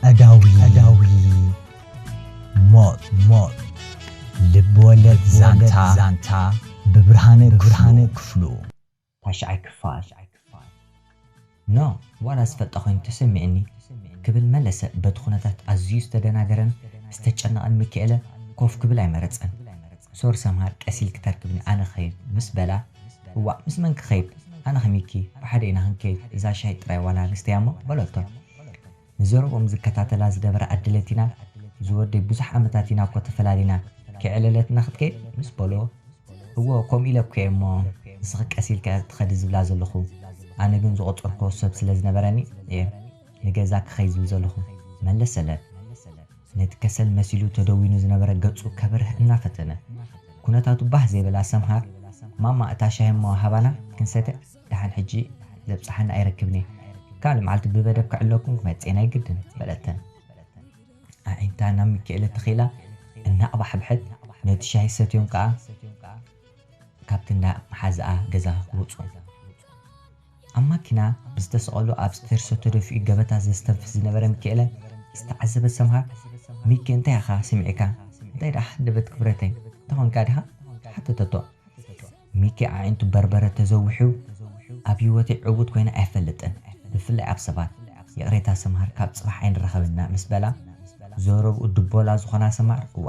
ቀዳዊ ቀዳዊ ሞት ሞት ልብወለድ ዛንታ ዛንታ ብብርሃነ ብርሃነ ክፍሉ ታሽዓይ ክፋል ን ዋላ ዝፈልጣ ኮይኑ ተሰሚዑኒ ክብል መለሰ በቲ ኩነታት ኣዝዩ ዝተደናገረን ዝተጨነቐን ሚኪኤለ ኮፍ ክብል ኣይመረጸን። ሶር ሰምሃር ቀስ ኢልኪ ተርክብኒ ኣነ ክኸይድ ምስ በላ እዋእ ምስ መን ክኸይድ ኣነ ከሚኪ ብሓደ ኢና ክንከይድ እዛ ሻሂ ጥራይ ዋላ ንስተያ እሞ በለቶ ንዘረብኦም ዝከታተላ ዝነበረ ኣደ ለቲና ዝወደይ ብዙሕ ዓመታት ኢና እኮ ተፈላሊና ከይዕለለትና ክትከይድ ምስ በልዎ እዎ ከምኡ ኢለ እኮ እየ እሞ ንስኺ ቀስ ኢልኪ እያ ትኸዲ ዝብላ ዘለኹ ኣነ ግን ዝቆጸርክዎ ሰብ ስለ ዝነበረኒ እየ ንገዛ ክኸይድ ዝብል ዘለኹ መለሰለን። ነቲ ከሰል መሲሉ ተደዊኑ ዝነበረ ገጹ ከብርህ እናፈተነ። ኩነታቱ ባህ ዘይበላ ሰምሃር፣ ማማ እታ ሻሂ'ሞ ሃባና ክንሰተ ደሓን ሕጂ ዘብጽሓኒ ኣይረክብን'የ፣ ካልእ መዓልቲ ብበደብ ክዕለኩም ክመጽእ'የ ናይ ግድን፣ በለተን። ኣዒንታ ናብ ሚኪኤለ ተኺላ እናቕባሕብሐት ነቲ ሻሂ ሰትዮም ከኣ ካብቲ እንዳ መሓዝኣ ገዛ ወጹ። ኣብ ማኪና ብዝተሰቐሉ ኣብ ስተርሶ ተደፊኡ ገበታ ዘስተንፍስ ዝነበረ ሚኪኤለ ዝተዓዘበት ሰምሃር፣ ሚኪ እንታይ ኢኻ ሰሚዕካ? እንታይ ደኣ ሃንደበት ክብረተይ እንተኾንካ ድኻ? ሓተተቶ። ሚኪ ኣዒንቱ በርበረ ተዘዊሑ፣ ኣብ ህይወተይ ዕዉት ኮይነ ኣይፈልጥን፣ ብፍላይ ኣብ ሰባት። ይቕሬታ ሰምሃር ካብ ጽባሕ ኣይንራኸብንና ምስ በላ፣ ዘረብኡ ድቦላ ዝኾና ሰምሃር እዋ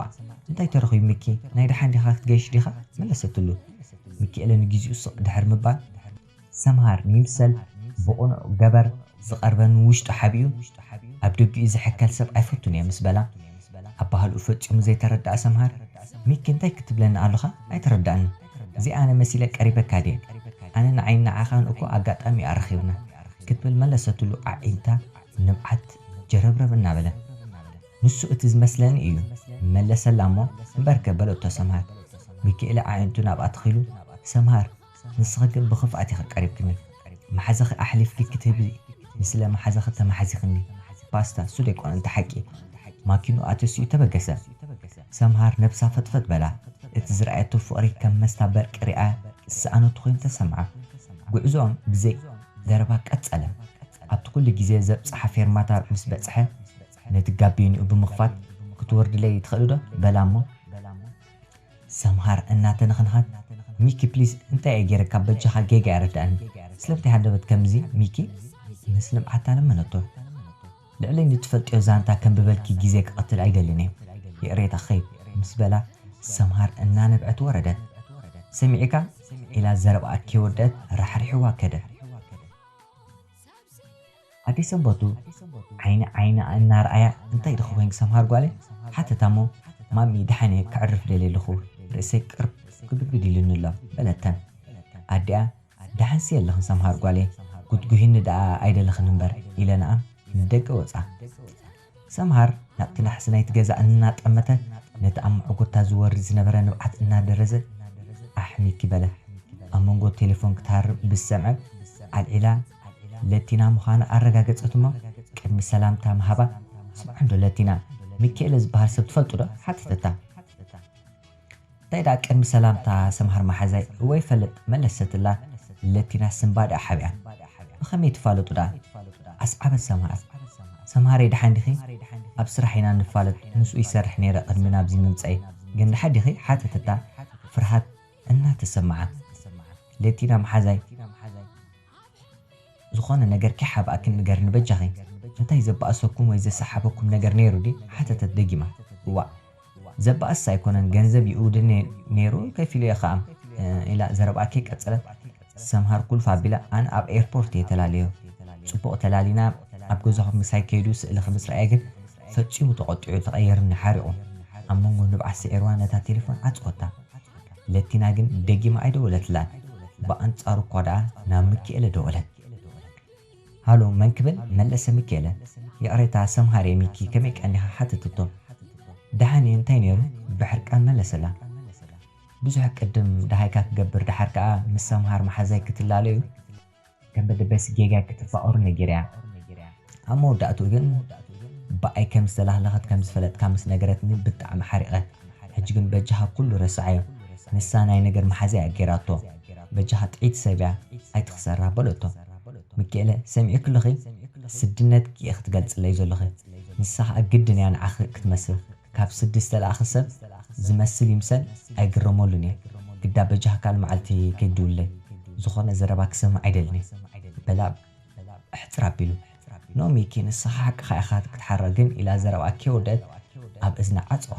እንታይ ተረኺቡ ሚኪ ናይ ደሓን ዲኻ ክትገይሽ ዲኻ? መለሰትሉ። ሚኪኤለ ንጊዚኡ ስቕ ድሕሪ ምባል፣ ሰምሃር ንይምሰል ብቕኑዕ ገበር ዝቐርበኒ ውሽጡ ሓቢኡ ኣብ ደጊኡ ዝሕከል ሰብ ኣይፈቱን'የ ምስ በላ፣ ኣባህልኡ ፈጺሙ ዘይተረደኣ ሰምሃር፣ ሚኪ እንታይ ክትብለኒ ኣሎኻ ኣይተረዳእንን፣ እዚ ኣነ መሲለ ቀሪበካ ድየ፣ ኣነ ንዓይን ንዓኻን እኮ ኣጋጣሚ'ዩ ኣራኺብና ክትብል መለሰትሉ ኣዒንታ ንብዓት ጀረብረብ እናበለን። ንሱ እቲ ዝመስለኒ እዩ መለሰላ እሞ እምበርከ በለቶ ሰምሃር። ሚኪኤለ ኣዒንቱ ናብኣ ተኺሉ፣ ሰምሃር ንስኺ ግን ብኽፍኣት ኢኺ ቀሪብክኒ። መሓዛኺ ኣሕሊፍኪ ክትህቢ ንስለ መሓዛኺ ተማሕዚኽኒ። ፓስታ እሱ ደይኮነን እቲ ሓቂ። ማኪንኡ ኣተሲኡ ተበገሰ። ሰምሃር ነብሳ ፈጥፈጥ በላ። እቲ ዝረኣየቶ ፍቕሪ ከም መስታ በርቂ ሪኣ ዝሰኣነቶ ኮይኑ ተሰምዓ። ጉዕዞኦም ብዘይ ዘረባ ቀጸለ። ኣብቲ ኩሉ ግዜ ዘብጽሓ ፌርማታ ምስ በጽሐ፣ ነቲ ጋቢንኡ ብምኽፋት ክትወርድለይ ትኽእልዶ በላ እሞ ሰምሃር እናተነኽነኸት ሚኪ ፕሊስ እንታይ እየ ጌረካ በጃኻ ጌጋ የረደኣኒ ስለምታይ ሃንደበት ከምዚ ሚኪ ምስ ልምዓታ ለመነቶ ልዕሊ ንትፈልጥዮ ዛንታ ከንብበልኪ ግዜ ክቐትል ኣይደልን እየ ይቕሬታ ክኸይድ ምስ በላ ሰምሃር እናነብዐት ወረደት ሰሚዒካ ኢላ ዘረብኣ ከይወደኣት ራሕሪሕዋ ከደ። ኣደይ ሰንበቱ ዓይኒ ዓይና እናርኣያ እንታይ ድኺ ኮይንኪ ሰምሃር ጓለይ? ሓተታ'ሞ ማሚ ደሓን'የ ከዕርፍ ደልየ ኣለኹ ርእሰይ ቅርብ ክብድብድ ኢሉኒ'ሎ በለተን። ኣዲኣ ደሓንሲ የለኽን ሰምሃር ጓለይ ጉትጉሂኒ ደኣ ኣይደለኽን እምበር ኢለንኣን ንደገ ወጻ። ሰምሃር ናብቲ ናሕሲ ናይቲ ገዛ እናጠመተ ነቲ ኣብ መዕጎታ ዝወርድ ዝነበረ ንብዓት እናደረዘ ኣሕሚኪ በለ። ኣብ መንጎ ቴለፎን ክትሃርም ምስ ሰምዐት ኣልዒላ ለቲና ምዃና ኣረጋገጸት እሞ ቅድሚ ሰላምታ ምሃባ ስምዓንዶ ለቲና፣ ሚኪኤለ ዝበሃል ሰብ ትፈልጡዶ? ሓተተታ። እንታይ ድኣ ቅድሚ ሰላምታ ሰምሃር ማሓዛይ እወ ይፈልጥ መለሰትላ ለቲና ስንባ ድኣ ሓቢኣ ብከመይ ትፋለጡ ድኣ ኣስዓበት ሰምሃር ሰምሃረይ ድሓን ዲኪ ኣብ ስራሕ ኢና ንፋለጥ ምስኡ ይሰርሕ ነይረ ቅድሚ ናብዚ ምምጸይ ግን ድሓ ዲኪ ሓተተታ ፍርሃት እናተሰምዓ ለቲና ማሓዛይ ዝኾነ ነገር ከይሓብኣክን ንገርኒ በጃኺ እንታይ ዘባኣሰኩም ወይ ዘሳሓበኩም ነገር ነይሩ ድዩ ሓተተት ደጊማ እዋእ ዘባእስ ኣይኮነን ገንዘብ ይእውድኒ ነይሩ ከፊሉ እየ ኸኣ ኢላ ዘረብኣ ከይቀጸለት ሰምሃር ኩልፍ ኣቢላ ኣነ ኣብ ኤርፖርት እየ ተላልዮ ጽቡቕ ተላሊና ኣብ ገዛኹም ምሳይ ከይዱ ስእልኺ ምስ ረኣየ ግን ፈጺሙ ተቖጢዑ ተቐይርኒ ሓሪቑ ኣብ መንጎ ንብዓት ስዒርዋ ነታ ቴለፎን ዓጸወታ። ለቲና ግን ደጊማ ኣይደወለትላን፣ ብኣንጻሩ እኳ ደኣ ናብ ምኪኤለ ደወለት። ሃሎ መን ክብል መለሰ ምኪኤለ። ይቕሬታ ሰምሃር'የ ሚኪ ከመይ ቀኒኻ ሓተተቶ። ደሓን'የ እንታይ ነይሩ? ብሕርቃን መለሰላ። ብዙሕ ቅድም ደሃይካ ክገብር ደሓር ከኣ ምስ ሰምሃር መሓዛይ ክትላለ'ዩ። ከም በደበስ ጌጋ ክትፋቐሩ ነጊራ'ያ። ኣብ መወዳእትኡ ግን ብኣይ ከም ዝተላህለኸት ከም ዝፈለጥካ ምስ ነገረትኒ ብጣዕሚ ሓሪቐ። ሕጂ ግን በጃኻ ኩሉ ረስዓዮ። ንሳ ናይ ነገር መሓዛ'ያ ገይራቶ። በጃኻ ጥዕይቲ ሰብ'ያ ኣይትኽሰራ በለቶ። ሚኪኤለ ሰሚዕኪ ኣለኺ? ስድነትኪ ኢኺ ትገልጽለይ ዘሎኺ። ንሳ ከኣ ግድን'ያ ንዓኺ ክትመስል። ካብ ስዲ ዝተላእኸ ሰብ ዝመስል ይምሰል ኣይግረመሉን እየ ግዳ በጃካል ማዓልቲ ከይትድውለለይ ዝኾነ ዘረባ ክሰምዕ ኣይደልን እየ በላ ብሕጽር ኣቢሉ። ን ሚኪ ንስኻ ሓቅኻ ኢኻ ክትሓራ ግን ኢላ ዘረብኣ ኬውደት ኣብ እዝና ዓጸዋ።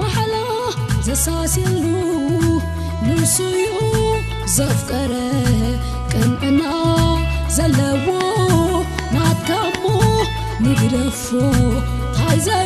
ማሕላ ዘሳስየሉ ንሱዩ ዘፍቀረ ቅንዕና ዘለዎ ናትካሞ ንግደፎ